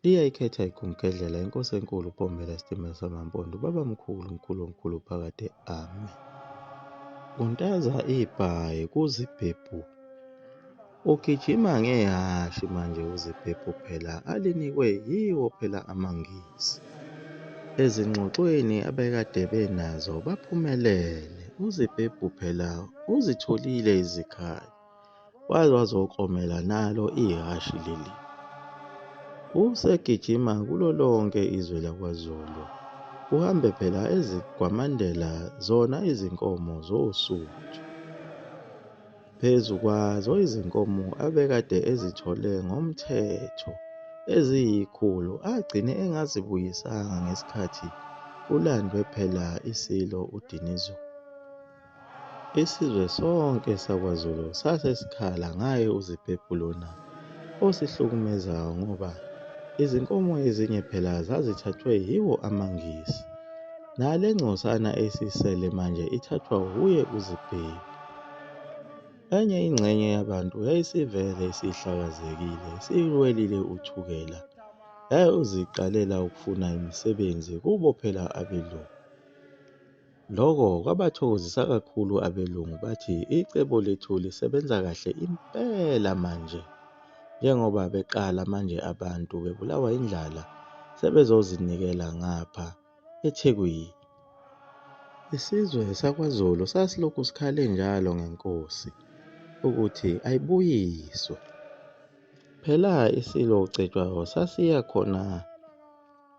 Liyayikhetha iGumgedlela, iNkosi enkulu, uPombela esitimela samaMpondo, uBabamkhulu, uMkhulu omkhulu phakade, Amen. Untaza ibhayi kuzibhebhu. Ugijima ngehhashi manje uzibhebhu phela alinikwe yiwo phela amaNgisi. Ezingxoxweni abekade benazo baphumelele. Uzibhebhu phela uzitholile izikhathi. Waze wazokomela nalo ihhashi leli. Usegijima kulo lonke izwe lakwaZulu. Uhambe phela ezigwamandela zona izinkomo zoSuthu. Phezu kwazo izinkomo abekade ezithole ngomthetho eziyikhulu agcine engazibuyisanga ngesikhathi kulandwe phela iSilo uDinizulu. Isizwe sonke sakwaZulu sase sikhala ngaye uZibhebhu lona osihlukumezayo ngoba izinkomo ezinye phela zazithathwe yiwo amaNgisi. Nale ngcosana esisele manje ithathwa wuye uZibhebhu. Enye ingxenye yabantu yayisivele isihlakazekile, isiwelile uthukela, yayoziqalela ukufuna imisebenzi kubo phela abelungu. Lokho kwabathokozisa kakhulu abelungu bathi icebo lethu lisebenza kahle impela manje njengoba beqala manje abantu bebulawa indlala sebezozinikela ngapha eThekwini. Isizwe sakwaZulu sasilokhu sikhale njalo ngenkosi ukuthi ayibuyiswe. Phela iSilo Cetshwayo sasiya khona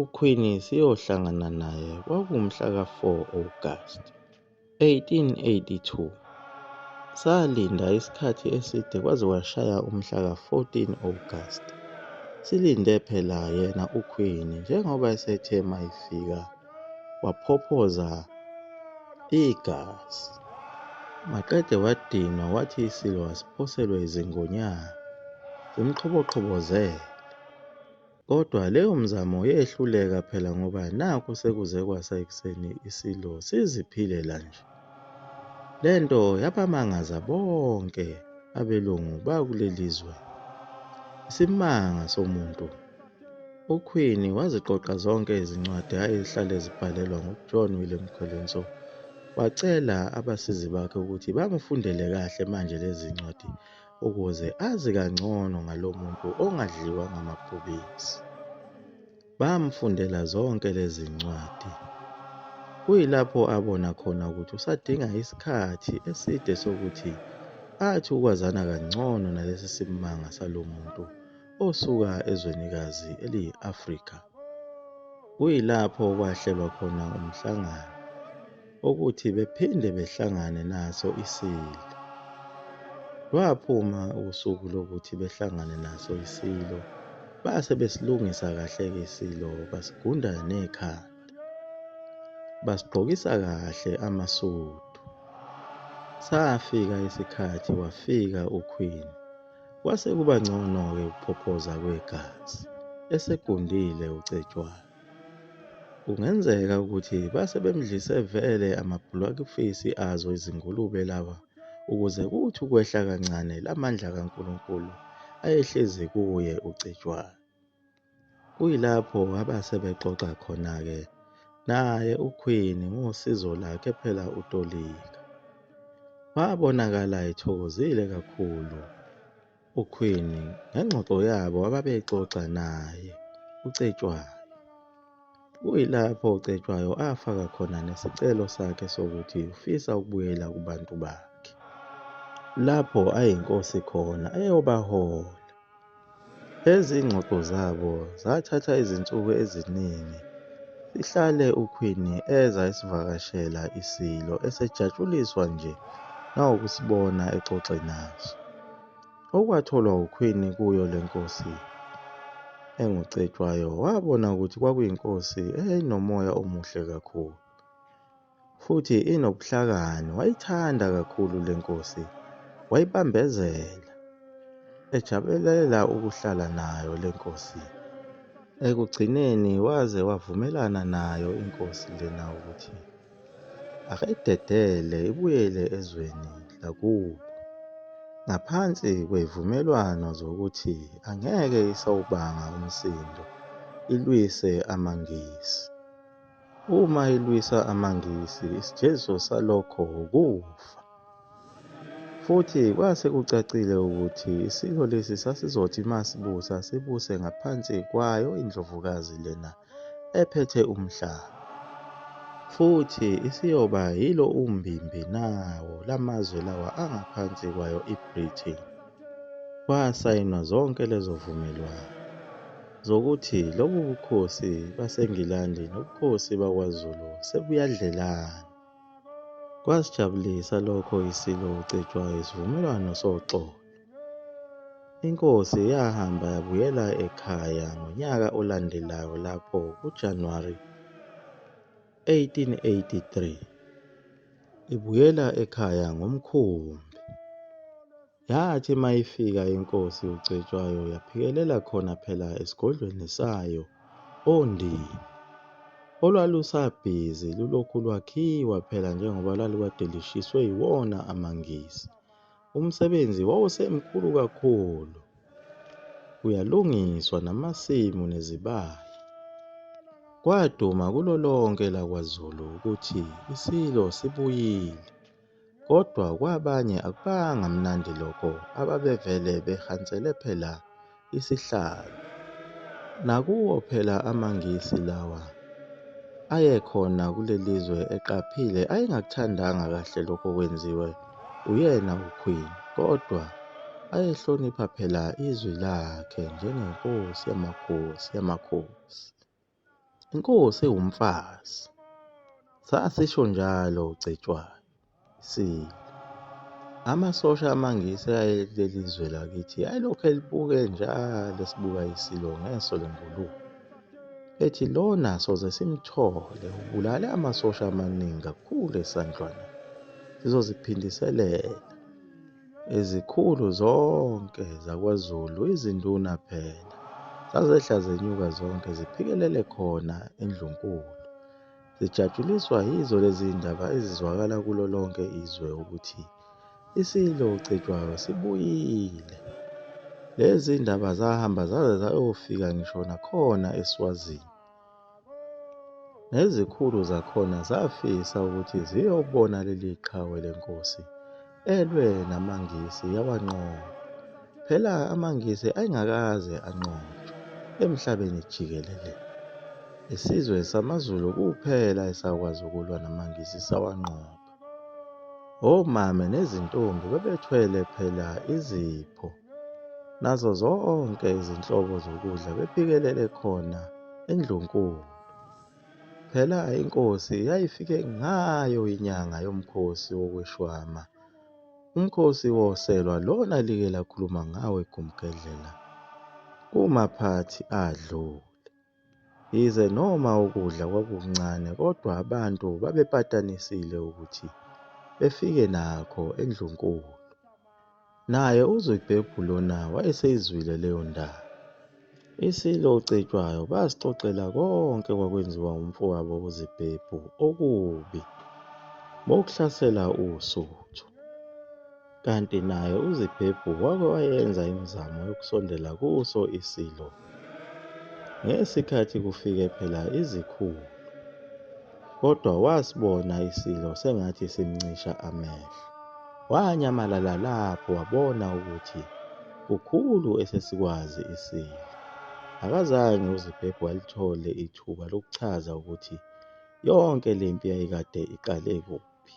UQueen siyohlangana naye kwakumhla ka-4 Agasti 1882. Salinda isikhathi eside kwaze kwashaya umhla ka-14 Agasti. Silinde phela yena uQueen njengoba esethe mayifika waphophoza igazi. Maqede wadinwa wathi iSilo asiphoselwe izingonyama zimqhoboqhobozele. Kodwa leyo mzamo yehluleka phela ngoba nakhu sekuze kwasa ekuseni isilo siziphilela nje. Le nto yabamangaza bonke abelungu bakuleli zwe. Isimanga somuntu. UQueen waziqoqa zonke izincwadi ayehlale zibhalelwa nguJohn Willem Colenso wacela abasizi bakhe ukuthi bamufundele kahle manje lezi ncwadi ukuze azi kangcono ngalo muntu ongadliwa ngamabhubesi. Bamfundela zonke lezi ncwadi. Kuyilapho abona khona ukuthi usadinga isikhathi eside sokuthi athi ukwazana kangcono nalesi simanga salo muntu osuka ezwenikazi eliyi-Afrika. Kuyilapho kwahlelwa khona umhlangano. ukuthi bephinde behlangane naso isilo. Lwaphuma usuku lokuthi behlangane naso isilo, base besilungisa kahle-ke isilo, basigunda nekhanda. Basigqokisa kahle amasudu. Safika isikhathi wafika uQueen. Kwase kuba ngcono-ke ukuphophoza kwegazi. Esegundile uCetshwayo. Kungenzeka ukuthi base bemdlise vele amabhulakufesi azo izingulube laba ukuze kuthi ukwehla kancane la mandla kaNkulunkulu ayehlezi kuye uCetshwayo. Kuyilapho abase bexoxa khona-ke naye uQueen ngosizo lakhe phela utolika. Wabonakala ethokozile kakhulu. uQueen ngengxoxo yabo ababeyixoxa naye uCetshwayo. Kuyilapho uCetshwayo afaka khona nesicelo sakhe sokuthi ufisa ukubuyela kubantu bakhe, lapho ayinkosi khona eyobahola. Lezi zingxoxo zabo zathatha izinsuku eziningi, sihlale uQueen eza esivakashela iSilo esejatshuliswa nje nawukusibona exoxe naso. Okwatholwa ukhwini kuyo le nkosi enguCetshwayo wabona ukuthi kwakuyinkosi eyayinomoya omuhle kakhulu futhi inobuhlakani. Wayithanda kakhulu le nkosi, wayibambezela, ejabulela ukuhlala nayo le nkosi. Ekugcineni waze wavumelana nayo inkosi lena ukuthi Ake idedele ibuyele ezweni lakubo ngaphansi kwey'vumelwano zokuthi angeke isawubanga umsindo ilwise amaNgisi. Uma ilwisa amaNgisi isijeziso salokho wukufa. Futhi kwase kucacile ukuthi isilo lesi sasizothi uma sibusa sibuse ngaphansi kwayo indlovukazi lena ephethe umhlaba, futhi isiyoba yilo umbimbi nawo lamazwe lawa angaphansi kwayo iBritain. Kwasayinwa zonke lezo vumelwano zokuthi lobu bukhosi baseNgilandi nobukhosi bakwaZulu sebuyadlelana. Kwasijabulisa lokho iSilo uCetshwayo isivumelwano soxolo. Inkosi yahamba yabuyela ekhaya ngonyaka olandelayo lapho kuJanuwari 1883 ibuyela ekhaya ngomkhumbi. Yathi uma ifika inkosi uCetshwayo yaphikelela khona phela esigodlweni sayo oNdini olwalusabhizi lulokhu lwakhiwa phela njengoba lwalukade lishiswe yiwona amaNgisi. Umsebenzi wawusemkhulu kakhulu, kuyalungiswa namasimu nezibaya. Kwaduma kulo lonke lakwaZulu ukuthi iSilo sibuyile. Kodwa kwabanye akubanga mnandi lokho ababevele behansele phela isihlalo. Nakuwo phela amaNgisi lawa ayekhona kulelizwe eqaphile ayengakuthandanga kahle lokho kwenziwe uyena uQueen kodwa ayehlonipha phela izwi lakhe njengenkosi yamakhosi yamakhosi. Inkosi ewumfazi. Sasisho njalo uCetshwayo. Sile. Amasosha amaNgisi ayeleli zwe lakithi ayelokhu elibuke njalo esibuka isilo ngeso lengulube. Ethi lona soze simthole ubulale amasosha amaningi kakhulu esandlwana. Sizoziphindiselela. Izikhulu zonke zakwaZulu, izinduna phela, zazehla zenyuka zonke ziphikelele khona eNdlunkulu. Zijatshuliswa yizo lezi zindaba ezizwakala kulo lonke izwe ukuthi iSilo uCetshwayo sibuyile. Lezi zindaba zahamba zaze zayofika ngisho nakhona eSwazini. Nezikhulu zakhona zafisa ukuthi ziyobona leli qhawe lenkosi elwe namaNgisi yawanqoba. Phela amaNgisi ayengakaze anqobe emhlabeni jikelele. Isizwe samaZulu kuphela esakwazi ukulwa namaNgisi sawanqoba. Omame nezintombi bebethwele phela izipho nazo zonke izinhlobo zokudla bephikelele khona endlunkulu. Phela inkosi yayifike ngayo inyanga yomkhosi wokweshwama. Umkhosi woselwa lona like lakhuluma ngawo eGumgedlela kumaphathi adlule. Yize noma ukudla kwakukuncane kodwa abantu babepatanisile ukuthi befike nakho endlunkulu. Naye uZwibhebhu lona wayeseyizwile leyo ndaba. Isilo uCetshwayo basixoxela konke kwakwenziwa umfowabo uZibhebhu okubi bokuhlasela uSuthu. Kanti naye uZibhebhu wake wayenza imizamo yokusondela kuso iSilo ngesikhathi kufike phela izikhulu, kodwa wasibona iSilo sengathi simncisha amehlo. Wanyamalala lapho wabona ukuthi kukhulu esesikwazi iSilo. Akazange uZibhebhu alithole ithuba lokuchaza ukuthi yonke le mpi yayikade iqale kuphi.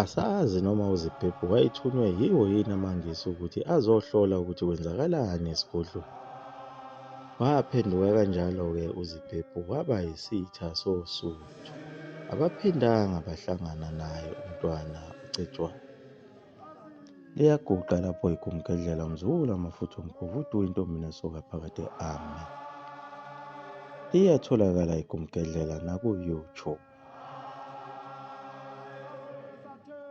Asazi noma uZibhebhu wayethunywe yiwo yini amaNgisi ukuthi azohlola ukuthi kwenzakalani esigodlweni. Waphenduka kanjalo-ke uZibhebhu waba yisitha soSuthu. Abaphindanga bahlangana naye uMntwana uCetshwayo. liyaguqa lapho igumgedlela umzukulu amafutha omkhovu udu intombi nesoka phakathi ami iyatholakala igumgedlela naku-youtube